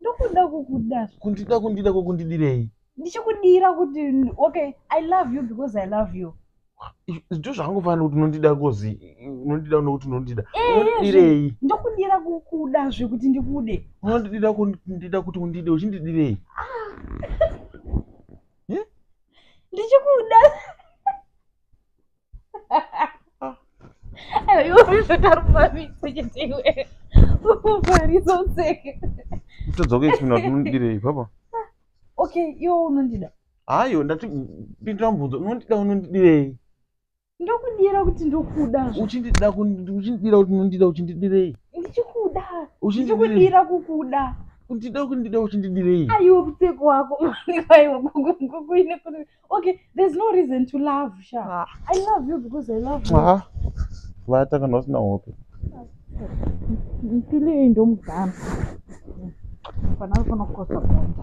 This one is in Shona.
ndokuda kukuda kundida kundida kokundidirei ndichikudira kuti okay i love you because i love you zvitu zvakangofanira kuti unondida kozi unondida nokuti unondida eh, unondidirei ndokudira kukuda zvekuti ndikude unondidira kundida kuti undide uchindidirei ah. eh? ndichikuda todzoka ismina kuti unondidirei papa okay iwe unondida hayo ndati pindira mubvunzo unondida unondidirei ndokudira kuti ndokuda uchindida uchindidira kuti unondida uchindidirei ndichikuda uchindidira kukuda kundida kundida uchindidirei aiwe pfeko wako aiwe kukuine okay there's no reason to love sha ah. i love you because i love you ah. vata kana usina hope mpilo iyi ndomugama fanaa fana kukosa bonda